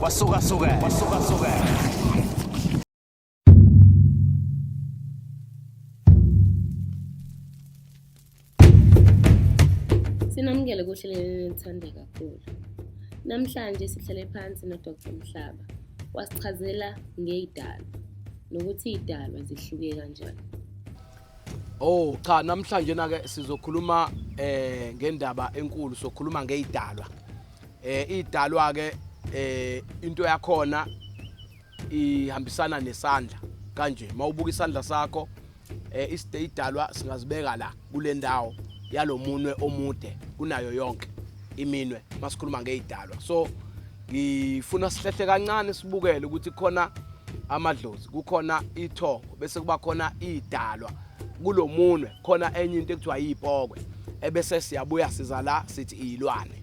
Wasuka suka. Wasuka suka. Sinamukele kuhleleni nithande kakhulu. Namhlanje sihlale phansi noDr Mhlaba wasichazela ngeyidalwa nokuthi idalwa zihluke kanjani. Oh cha namhlanje na ke sizokhuluma eh ngendaba enkulu sokhuluma ngeidalwa. Eh idalwa ke eh into yakhona ihambisana nesandla kanje mawubuka isandla sakho eh iside idalwa singazibeka la kule ndawo yalomunwe omude kunayo yonke iminwe masikhuluma ngeidalwa. So ngifuna sihlehle kancane sibukele ukuthi khona amadlozi kukhona ithongo bese kuba khona idalwa kulomunwe khona enye into ekuthiwa yipokwe ebese siyabuya siza la sithi izilwane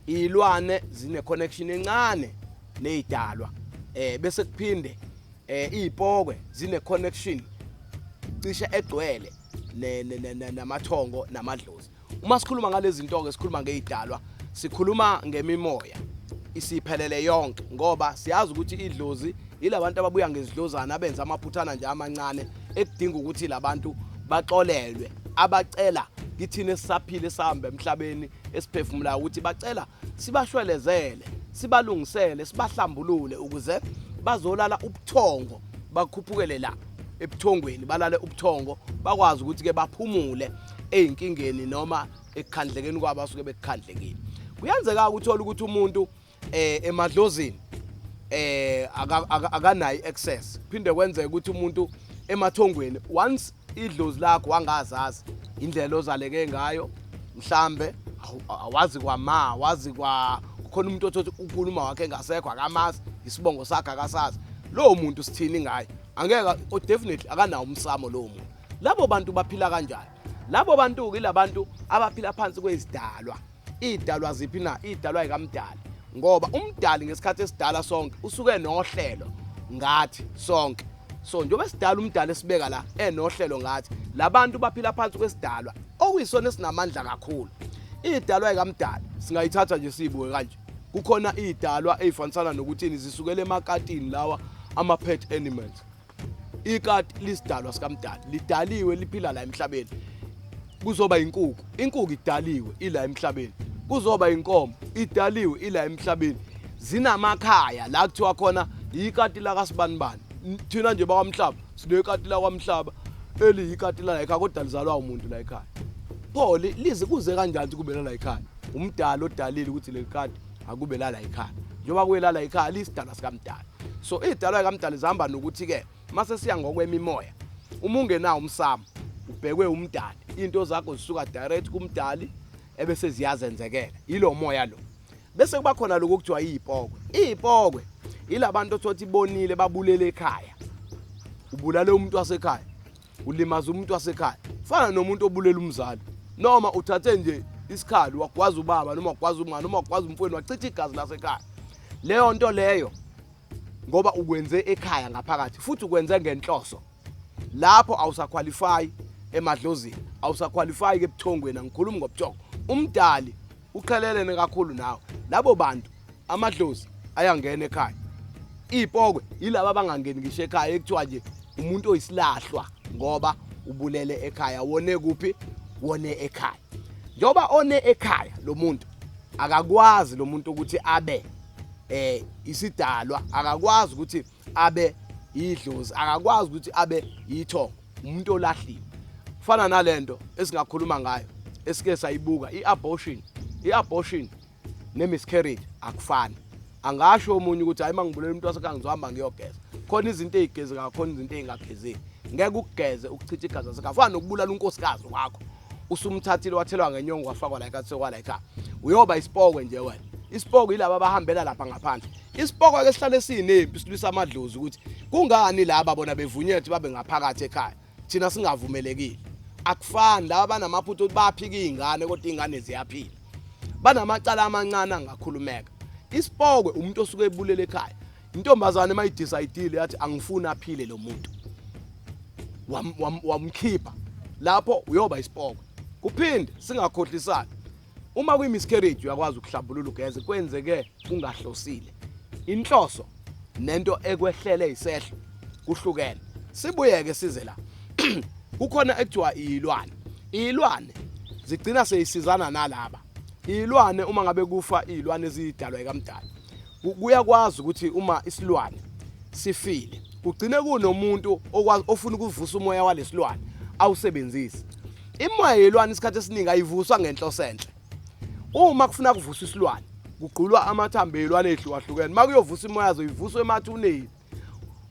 izilwane zine connection encane nezidalwa eh bese kuphinde eh izipokwe zine connection cishe egcwele namathongo namadlozi uma sikhuluma ngalezi nto-ke sikhuluma ngey'dalwa sikhuluma ngemimoya isiphelele yonke ngoba siyazi ukuthi idlozi yilabantu ababuya ngezidlozana abenza amaphuthana nje amancane ekudinga ukuthi labantu baxolelwe abacela kithina esisaphile sihamba emhlabeni esiphefumulayo ukuthi bacela sibashwelezele sibalungisele sibahlambulule ukuze bazolala ubuthongo bakhuphukele la ebuthongweni balale ubuthongo bakwazi ukuthi-ke baphumule ezinkingeni noma ekukhandlekeni kwabo asuke bekukhandlekile kuyenzeka ukuthola ukuthi umuntu eh emadlozini eh akanayi access phinde kwenzeka ukuthi umuntu emathongweni once idlozi lakho wangazazi indlela ozaleke ngayo mhlambe awazi kwama wazi kwa khona umuntu othothi ukuluma wakhe engasekho akamazi isibongo sakhe akasazi lowo muntu sithini ngaye angeke oh, definitely akanawo umsamo lowo muntu Labo bantu baphila kanjani? Labo bantu-ke ilabantu abaphila phansi kwezidalwa. Iy'dalwa ziphi na? Iy'dalwa yikamdali. Ngoba umdali ngesikhathi esidala sonke usuke nohlelo ngathi sonke. So njengoba esidala umdali esibeka la enohlelo ngathi labantu baphila phansi kwesidalwa okuyisona esinamandla kakhulu. Idalwa yikamdali singayithatha nje siyibuke kanje. Kukhona idalwa ezifanisana nokuthini zisukela emakatini lawa ama pet animals. ikati lisidalwa sikamdali lidaliwe liphila la emhlabeni kuzoba inkuku inkuku idaliwe ila emhlabeni kuzoba inkomo idaliwe ila emhlabeni zinamakhaya la kuthiwa khona yikati lakasibanibani thina nje bakwamhlaba sinekati lakwamhlaba eliyikati la ekhaya kodwa lizalwa umuntu la ekhaya pho lize kuze kanjani ukuthi kube la ekhaya umdala odalile ukuthi leli kati akube lala ikhaya njengoba kuyelala ikhaya liyisidalwa sikamdala so idalwa likamdala zihamba nokuthi-ke uma sesiya ngokwemimoya uma ungenawo umsamo ubhekwe umdali into zakho zisuka direct kumdali ebese ziyazenzekela yilo moya lo bese kuba khona lokho kuthiwa iyipokwe iyipokwe yilabantu othothi bonile babulele ekhaya ubulale umuntu wasekhaya ulimaza umuntu wasekhaya fana nomuntu obulela umzali noma uthathe nje isikhali wagwaza ubaba noma wagwaza umngane noma wagwaza umfweni wachitha igazi lasekhaya leyo nto leyo ngoba ukwenze ekhaya ngaphakathi futhi ukwenze ngenhloso lapho awusakhwalifayi emadlozini awusakhwalifayi ke ebuthongweni angikhulumi ngobuthongo umdali uqhelelene kakhulu nawe labo bantu amadlozi ayangena ekhaya iy'pokwe yilaba abangangeni ngisho ekhaya ekuthiwa nje umuntu oyisilahlwa ngoba ubulele ekhaya wone kuphi wone ekhaya njengoba one ekhaya lo muntu akakwazi lo muntu ukuthi abe eh isidalwa akakwazi ukuthi abe yidlozi akakwazi ukuthi abe yithongo umuntu olahliwe kufana nalento esingakhuluma ngayo esike sayibuka i-abortion i-abortion ne-miscarriage akufani angasho omunye ukuthi hayi mangibulela umuntu wasekhaya ngizohamba ngiyogeza khona izinto ey'gezekayo khona izinto ey'ngagezeki ngeke ukugeze ukuchitha igazi lasekhaya fana nokubulala unkosikazi wakho usumthathile wathelwa ngenyongo wafakwa la ekhaya sekwa la ekhaya uyoba isipokwe nje wena isipoko yilaba abahambela lapha ngaphandle isipoko ke sihlale sinempi silwisa amadlozi ukuthi kungani laba bona bevunyelwe ukuthi babe ngaphakathi ekhaya thina singavumelekile akufani laba banamaphutha ukuthi baphika izingane kodwa izingane ziyaphila banamacala amancane angakhulumeka isipokwe umuntu osuke ebulele ekhaya Intombazane uma idecide yathi angifuni aphile lo muntu. Wamkhipha. Lapho uyoba isipoko. Kuphinde singakhohlisani. Uma kuyi miscarriage uyakwazi ukuhlambulula ugeze kwenzeke ungahlosile. Inhloso nento ekwehlele isehlo kuhlukene. Sibuyeke size la. Kukhona ekuthiwa ilwane. Ilwane zigcina seyisizana nalaba. Ilwane uma ngabe kufa izilwane ezidalwa ekamdala. kuyakwazi ukuthi uma isilwane sifile kugcine kunomuntu okwazi ofuna ukuvusa umoya walesilwane awusebenzise imoya yelwane isikhathi esiningi ayivuswa ngenhloso enhle uma kufuna kuvusa isilwane kugqulwa amathambo elwane ehlukahlukene makuyovusa imoya azoyivusa emathuneni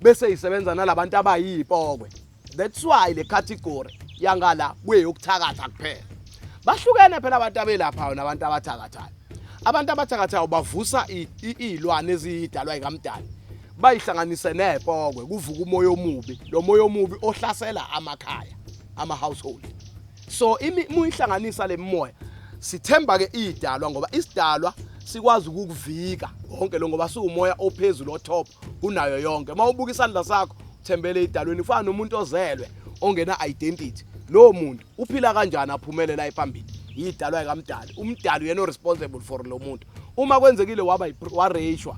bese isebenza nalabantu abayipokwe that's why le category yangala kuyeyokuthakatha kuphela bahlukene phela abantu abelaphayo nabantu abathakathayo abantu abathakathayo bavusa iy'lwane ezidalwa yikamdali bayihlanganise nepokwe kuvuka umoya omubi lo moya omubi ohlasela amakhaya ama-household so muyihlanganisa le mimoya sithemba-ke iyidalwa ngoba isidalwa sikwazi ukukuvika konke lo ngoba siwumoya ophezulu otop unayo yonke uma ubuka isandla sakho uthembele idalweni kufana nomuntu ozelwe ongena identity lowo muntu uphila kanjani aphumele la ephambili yidalwa ikamdali umdali uyena responsible for lo muntu uma kwenzekile waba wareshwa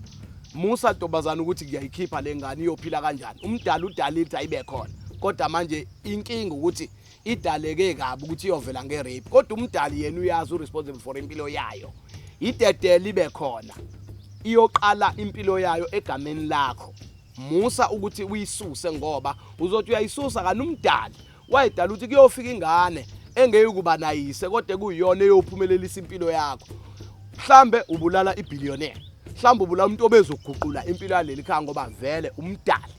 musa ntombazana ukuthi ngiyayikhipha le ngane iyophila kanjani umdali udalile ukuthi ayibe khona kodwa manje inkinga ukuthi idaleke kabi ukuthi iyovela nge-rape kodwa umdali yena uyazi u-responsible for impilo yayo idedele ibe khona iyoqala impilo yayo egameni lakho musa ukuthi uyisuse ngoba uzothi uyayisusa kanti umdali wayedala ukuthi kuyofika ingane engeke ukuba nayise kodwa kuyiyona eyophumelelisa impilo yakho mhlambe ubulala ibillionaire mhlawumbe ubula umuntu obezoguqula impilo yaleli khaya ngoba vele umdali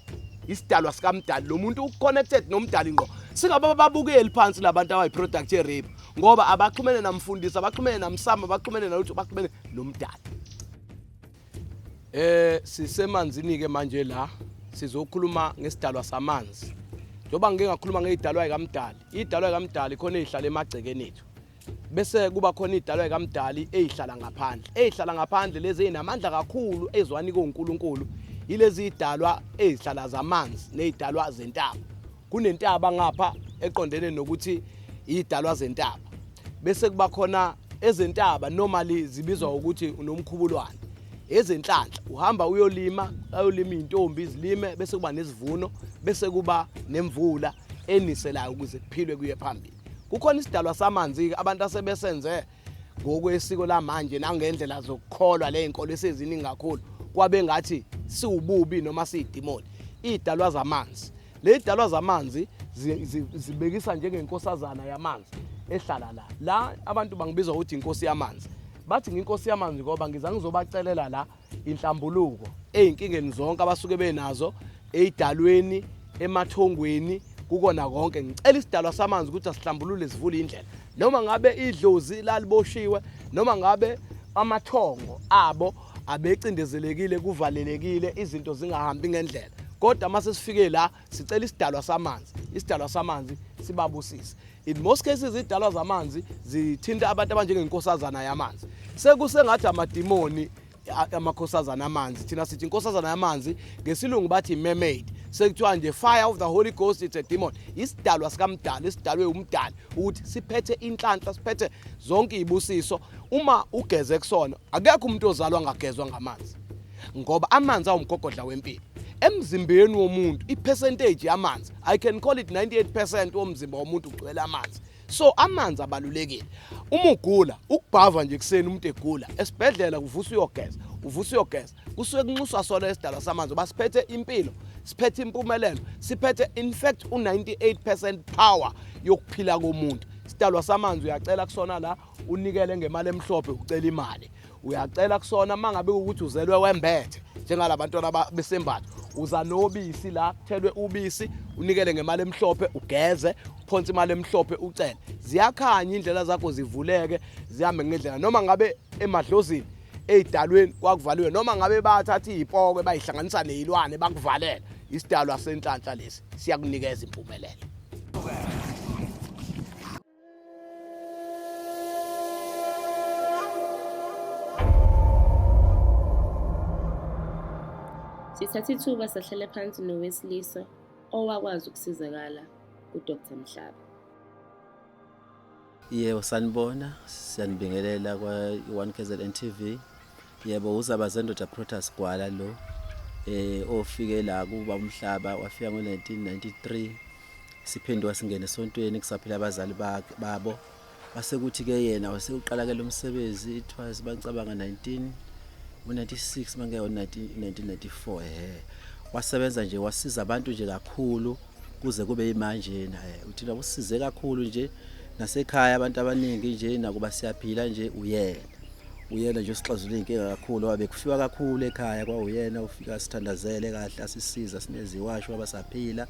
isidalwa sikamdali lo muntu uconnected nomdali ngqo singaba babukeli phansi labantu abayi-product ye-rape ngoba abaxhumene namfundisi abaxhumene namsama abaxhumene nalutho baxhumene nomdali eh sisemanzini-ke manje la sizokhuluma ngesidalwa samanzi njengoba ngike ngakhuluma ngeyidalwa yikamdali iyidalwa yikamdali khona eyihlala emagcekeni ethu bese kuba khona idalwa ekaMdali ezihlala ngaphandle ezihlala ngaphandle lezi ezinamandla kakhulu ezwani koNkulunkulu yilezi idalwa ezihlala zamanzi nezidalwa zentaba kunentaba ngapha eqondene nokuthi idalwa zentaba bese kuba khona ezentaba normally zibizwa ukuthi unomkhubulwane ezenhlanhla uhamba uyolima ayolima izintombi izilime bese kuba nesivuno bese kuba nemvula eniselayo ukuze kuphilwe kuye phambili kukhona isidalwa samanzi-ke abantu asebesenze ngokwesiko lamanje nangendlela zokukholwa ley'nkolo eseziningi kakhulu kwabe ngathi siwububi noma siyidimoni iy'dalwa zamanzi ley'dalwa zamanzi zibekisa njengenkosazana yamanzi ehlala la la abantu bangibiza ukuthi inkosi yamanzi bathi nginkosi yamanzi ngoba ngiza ngizobacelela la inhlambuluko ezinkingeni zonke abasuke benazo eidalweni emathongweni kukona konke ngicela isidalwa samanzi ukuthi asihlambulule sivule indlela noma ngabe idlozi laliboshiwe noma ngabe amathongo abo abecindezelekile kuvalelekile izinto zingahambi ngendlela kodwa uma sesifike la sicela isidalwa samanzi isidalwa samanzi sibabusise in most cases izidalwa zamanzi zithinta abantu abanjengenkosazana yamanzi sekusengathi amadimoni amakhosazana amanzi thina sithi inkosazana yamanzi ngesilungu bathi mermaid sekuthiwa nje fire of the holy ghost it's a demon isidalwa sikamdala isidalwe umdala ukuthi siphethe inhlanhla siphethe zonke izibusiso uma ugeze kusona akekho umuntu ozalwa ngagezwa ngamanzi ngoba amanzi awumgogodla wempilo emzimbeni womuntu ipercentage yamanzi i can call it 98% womzimba womuntu ugcwele amanzi so amanzi abalulekile uma ugula ukubhava nje kuseni umuntu egula esibhedlela kuvusa uyogeza uvusa uyogeza kusuke kunxuswa sona esidala samanzi uba siphethe impilo siphethe impumelelo siphethe in fact u-98 power yokuphila komuntu sidalwa samanzi uyacela kusona la unikele ngemali emhlophe ucela imali uyacela kusona uma ngabe ukuthi uzelwe wembethe njengala bantwana besembatho uza nobisi la kuthelwe ubisi unikele ngemali emhlophe ugeze uphonse imali emhlophe ucele ziyakhanya indlela zakho zivuleke zihambe ngendlela noma ngabe emadlozini ey'dalweni kwakuvaliwe noma ngabe bathatha iy'pokwe bayihlanganisa ney'lwane bakuvalela isidalwa senhlanhla lesi siyakunikeza impumelelo Sithatha ithuba sahlale phansi nowesilisa owakwazi ukusizakala kuDr Mhlaba. Yebo sanibona, siyanibingelela kwa-1 KZN TV. Yebo uzaba zendoda Protas Gwala lo eh ofike la kuba umhlaba wafika ngo1993 siphenduka singene esontweni kusaphila abazali bakhe babo base kuthi ke yena wasekuqala ke lomsebenzi it was bangicabanga 19 ngo96 mangeke 1994 eh wasebenza nje wasiza abantu nje kakhulu kuze kube imanje na eh, uthina usize kakhulu nje nasekhaya abantu abaningi nje nakuba siyaphila nje uyena uyena nje osixazulula inkinga kakhulu wabe kufiwa kakhulu ekhaya kwawuyena ufika sithandazele kahle asisiza sineziwasho abasaphila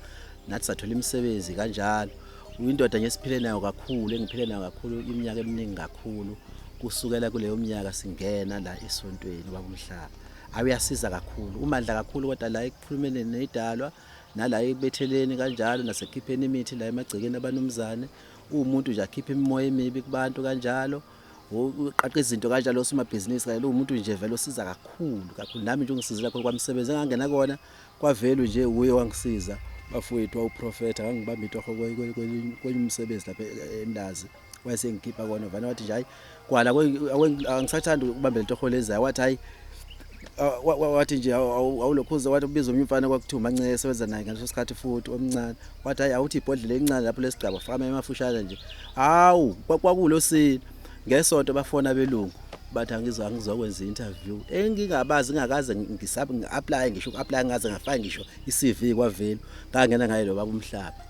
nathi sathola imisebenzi kanjalo uyindoda nje siphile nayo kakhulu engiphile nayo kakhulu iminyaka eminingi kakhulu kusukela kuleyo minyaka singena la esontweni babumhlaba awuyasiza kakhulu umandla kakhulu kodwa la ekukhulumeni nedalwa nala ekubetheleni kanjalo nasekhipheni imithi la emagcekeni abanumzane uwumuntu nje akhipha imimoya emibi kubantu kanjalo uqaqa izinto kanjalo osomabhizinisi kanye umuntu nje vele osiza kakhulu kakhulu nami nje ungisizile kakhulu kwamsebenzi engangena kona kwavelu nje uye wangisiza bafowethu wawuprofetha ngangibamba itoho kwenye umsebenzi lapha endazi wayesengikhipha kona vana wathi nje hayi kwala angisathanda ukubambela itoho lezayo wathi hayi wathi nje awulokhuza wathi ubiza omnye umfana kwakuthiwa umancele esebenza naye ngaleso sikhathi futhi omncane wathi hayi awuthi ibhodlela elincane lapho lesigaba fama emafushane nje hawu kwakulo sini ngesonto bafona belungu bathi angizwa ngizokwenza interview engingabazi ngakaze ngisabe ngi-apply ngisho uku-apply ngaze ngafaka ngisho i-CV kwavelu ngangena ngaye lo baba umhlaba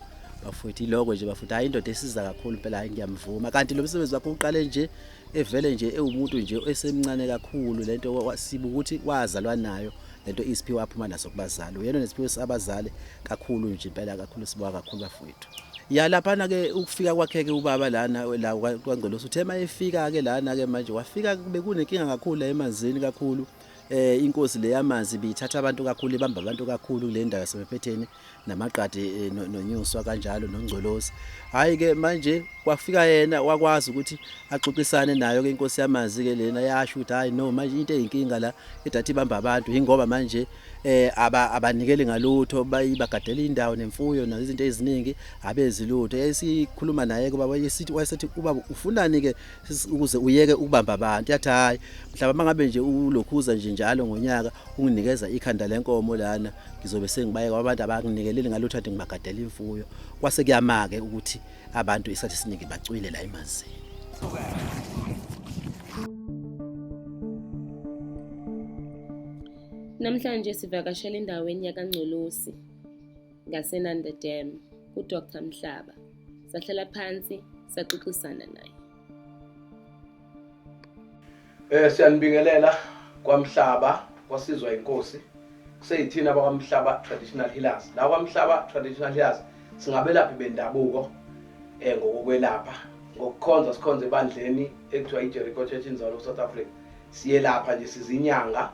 bafuthi iloko nje bafuthi hayi indoda esiza kakhulu phela hayi ngiyamvuma kanti lo msebenzi wakho uqale nje evele nje ewumuntu nje esemncane kakhulu lento sibu ukuthi wazalwa nayo lento isiphiwe aphuma naso kubazali uyena nesiphiwe sabazali kakhulu nje impela kakhulu sibuka kakhulu bafowethu ya laphana ke ukufika kwakhe ke ubaba lana la kwangcolosi uthe mayefika ke lana ke manje wafika bekunenkinga kakhulu la emanzini kakhulu eh inkosi leyamanzi bithatha abantu kakhulu ibamba abantu kakhulu kule ndawo yaseMphetheni namaqadi eh, nonyuswa kanjalo nongcolosi hayi ke manje kwafika yena wakwazi ukuthi axoxisane nayo ke inkosi yamazi ke lena yasho ukuthi hayi no manje into eyinkinga la edathi ibamba abantu ingoba manje eh aba abanikeli ngalutho bayibagadela indawo nemfuyo nazo izinto eziningi abezilutho yayisikhuluma naye kuba wayesithi wayesethi ubaba ufunani ke ukuze uyeke ukubamba abantu yathi hayi mhlawumbe mangabe nje ulokhuza nje njalo ngonyaka unginikeza ikhanda lenkomo lana ngizobe sengibayeka abantu abanginikeleli ngalutho athi ngibagadela imfuyo kwase kuyamake ukuthi abantu isikhathi esiningi bacwile la emanzini Namhlanje sivakashela endaweni yakaNgcolosi ngaseNanda Dam kuDr Mhlaba. Sahlala phansi saxoxisana naye. Eh siyanibingelela kwaMhlaba kwasizwa inkosi kuseyithina bakwaMhlaba traditional healers la kwaMhlaba traditional healers singabelaphi bendabuko eh ngokokwelapha ngokukhonza sikhonza ebandleni ekuthiwa iJericho Church in Zalo South Africa siyelapha nje sizinyanga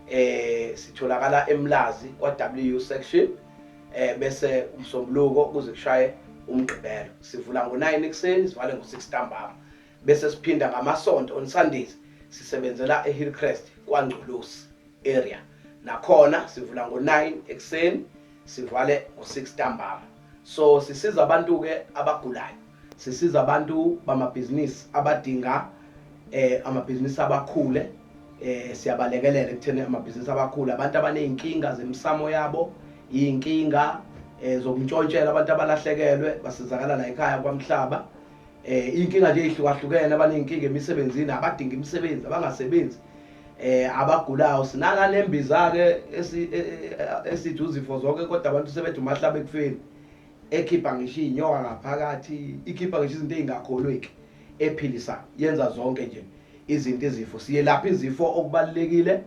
eh sitholakala eMlazi kwa WU section eh bese umsombuluko kuze kushaye umgqibelo sivula ngo9 ekuseni sivale ngo6 ntambama bese siphinda ngamasonto on Sundays sisebenzela eHillcrest kwaNgculusi area nakhona sivula ngo-9 ekuseni sivale ngo-6 ntambama so sisiza abantu-ke abagulayo sisiza abantu bamabhizinisi abadinga eh, amabhizinisi abakhule eh, siyabalekelela ekutheni amabhizinisi abakhule abantu abaney'nkinga zemisamo yabo iy'nkinga eh, zokuntshontshela abantu abalahlekelwe basizakala la ekhaya kwamhlaba eh inkinga nje ihlukahlukene abaninkinga emisebenzini abadinga imisebenzi abangasebenzi eh abagulayo sinaka lembiza ke e, e, e, esithi uzifo zonke kodwa abantu sebethi umahlaba ekufeni ekhipha ngisho inyoka ngaphakathi ikhipha ngisho izinto ezingakholweki ephilisa yenza zonke nje izinto izifo siyelapha izifo okubalekile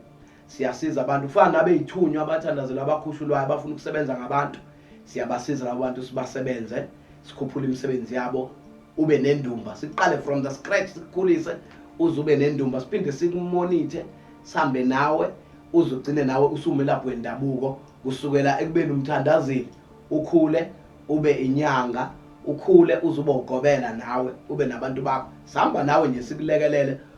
siyasiza abantu kufana nabeyithunywa abathandazela abakhushulwayo abafuna ukusebenza ngabantu siyabasiza labo bantu sibasebenze sikhuphule imisebenzi yabo ube nendumba siqale from the scratch sikukhulise uze ube nendumba siphinde sikumonithe sihambe nawe uze ugcine nawe usumelaphi wendabuko kusukela ekubeni umthandazile ukhule ube inyanga ukhule uze ube ugobela nawe ube nabantu bakho sihamba nawe nje sikulekelele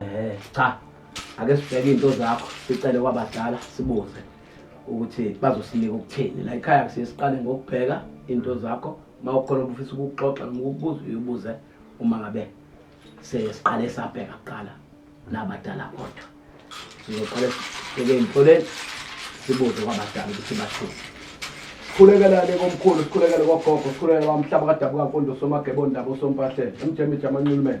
Eh cha ake sibheke into zakho sicele kwabadala sibuze ukuthi bazosinika ukuthini la ekhaya kusiye siqale ngokubheka into zakho uma ukhona obufisa ukukuxoxa noma ukubuza uyibuze uma ngabe sesiqale sabheka kuqala nabadala kodwa sizoqale sibheke emtholeni sibuze kwabadala ukuthi bathini sikhulekelane komkhulu sikhulekele kogogo sikhulekele kwamhlaba kadabuka mfundo somagebondaba osompahlele emjemijama nculumele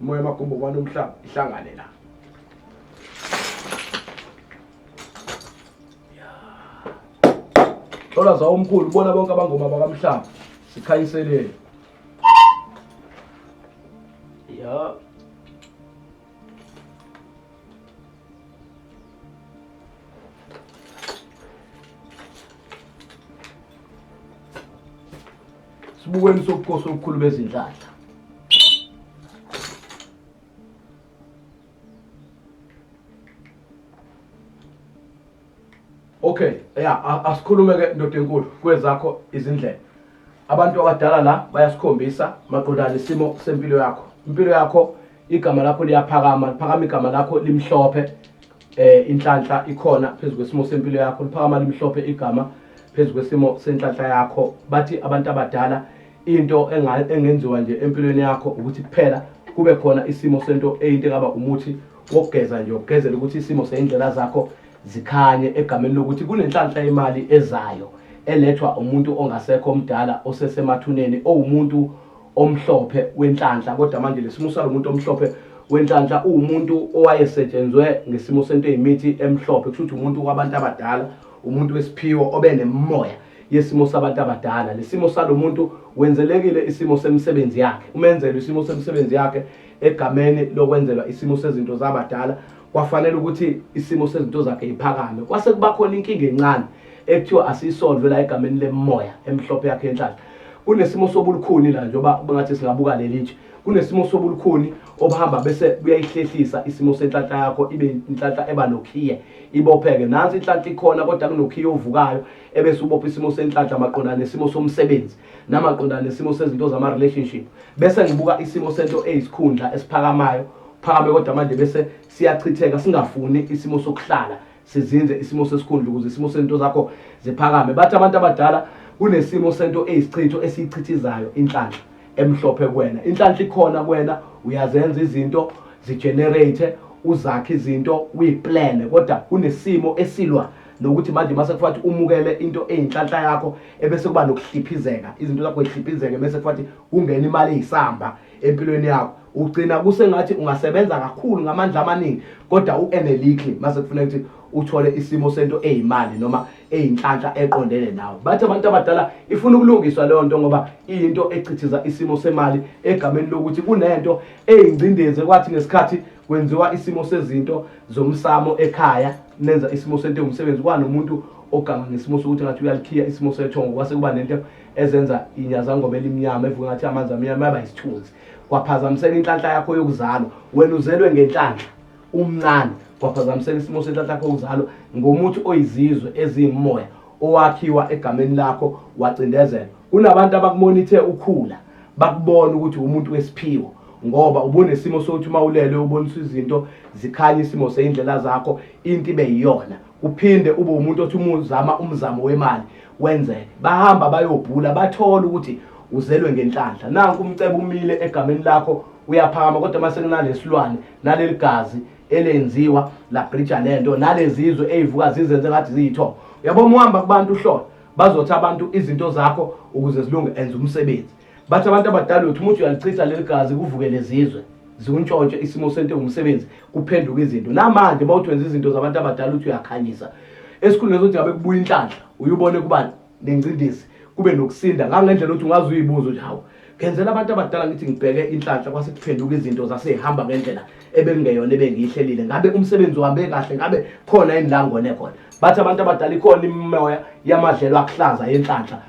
Moya magumbo kwani umhlaba ihlangane la. Thola zawo umkhulu ubona bonke abangoma bakamhlaba sikhayiselele. Ya. sibukweni sobukosi obukhulu bezinhlanhla okay ya asikhulume ke ndoda enkulu kwezakho izindlela abantu abadala la bayasikhombisa maqondana isimo sempilo yakho impilo yakho igama lakho liyaphakama liphakama igama lakho limhlophe eh inhlanhla ikhona phezu kwesimo sempilo yakho liphakama limhlophe igama phezu kwesimo senhlanhla yakho bathi abantu abadala into engenziwa nje empilweni yakho ukuthi kuphela kube khona isimo sento eyinto engaba umuthi wokugeza nje ukugezela ukuthi isimo seyindlela zakho zikhanye egameni lokuthi kunenhlanhla yemali ezayo elethwa umuntu ongasekho omdala osesemathuneni owumuntu omhlophe wenhlanhla kodwa manje lesimo salomuntu omhlophe wenhlanhla uwumuntu owayesetshenzwe ngesimo sento eyimithi emhlophe kusho ukuthi umuntu wabantu abadala umuntu wesiphiwo obe nemimoya yesimo sabantu abadala lesimo salomuntu wenzelekile isimo semisebenzi yakhe umenzelwe isimo semisebenzi yakhe egameni lokwenzelwa isimo sezinto zabadala kwafanele ukuthi isimo sezinto zakhe iphakame kwase kuba khona inkinga encane ekuthiwa asiyisolve la egameni lemimoya emhlophe yakhe enhlanhla kunesimo sobulukhuni la njengoba bengathi singabuka leli nje kunesimo sobulukhuni obuhamba bese kuyayihlehlisa isimo senhlanhla yakho ibe inhlanhla eba nokhiye ibopheke nansi inhlanhla ikhona kodwa kunokhiye ovukayo ebese ubopha isimo senhlanhla maqondana nesimo somsebenzi namaqondana nesimo sezinto zama-relationship bese ngibuka isimo sento eyisikhundla esiphakamayo phakame kodwa manje bese siyachitheka singafuni isimo sokuhlala sizinze isimo sesikhundla ukuze isimo sento zakho ziphakame bathi abantu abadala kunesimo sento eyisichitho esiyichithizayo inhlanhla emhlophe kuwena inhlanhla ikhona kuwena uyazenza izinto zigenerate uzakhe izinto uyiplane kodwa kunesimo esilwa nokuthi manje mase kufathi umukele into eyinhlanhla yakho ebese kuba nokuhliphizeka izinto zakho zihliphizeke bese kufathi kungena imali eyisamba empilweni yakho ugcina kusengathi ungasebenza kakhulu ngamandla amaningi kodwa uenelikhi mase kufuneka ukuthi uthole isimo sento eyimali noma eyinhlanhla eqondene nawe bathi abantu abadala ifuna ukulungiswa leyo nto ngoba iyinto echithiza isimo semali egameni lokuthi kunento eyingcindezi kwathi ngesikhathi kwenziwa isimo sezinto zomsamo ekhaya nenza isimo sento yomsebenzi kwanomuntu oganga ngesimo sokuthi ngathi uyalikhiya isimo sethongo kwase kuba nento ezenza inyazangoba elimnyama evuka ngathi amanzi amnyama yaba isithunzi kwaphazamiseka inhlanhla yakho yokuzalwa wena uzelwe ngenhlanhla umncane kwaphazamiseka isimo senhlanhla yakho yokuzalwa ngomuthi oyizizwe eziyimoya owakhiwa egameni lakho wacindezela kunabantu abakumonithe ukhula bakubona ukuthi umuntu wesiphiwo ngoba ubunesimo sokuthi uma ulele uboniswa izinto zikhanye isimo seyindlela zakho into ibe yiyona uphinde ube umuntu othi uma uzama umzamo wemali wenzeke bahamba bayobhula bathola ukuthi uzelwe ngenhlanhla nanku umcebo umile egameni lakho uyaphakama kodwa uma sekunalesilwane naleli gazi elenziwa labrija le nto nalezizwe eyivuka zizenze ngathi ziyithoba uyabo uma uhamba kubantu uhlola bazothi abantu izinto zakho ukuze zilunge enza umsebenzi bathi abantu abadala uthi umuntu uyalichitha leli gazi kuvuke lezizwe ziwuntshontshe isimo sento ngumsebenzi kuphenduka izinto namanje uma uthi wenza izinto zabantu abadala uthi uyakhanyisa esikhundleni sokuthi ngabe kubuya inhlanhla uyubone kuba nengcindezi kube nokusinda ngangendlela ukuthi ungaze uyibuze ukuthi hawu ngenzela abantu abadala ngithi ngibheke inhlanhla kwase kuphenduka izinto zasehamba ngendlela ebengeyona ebengiyihlelile ngabe umsebenzi uhambe kahle ngabe khona yini la ngone khona bathi abantu abadala ikhona imimoya yamadlelo akuhlaza yenhlanhla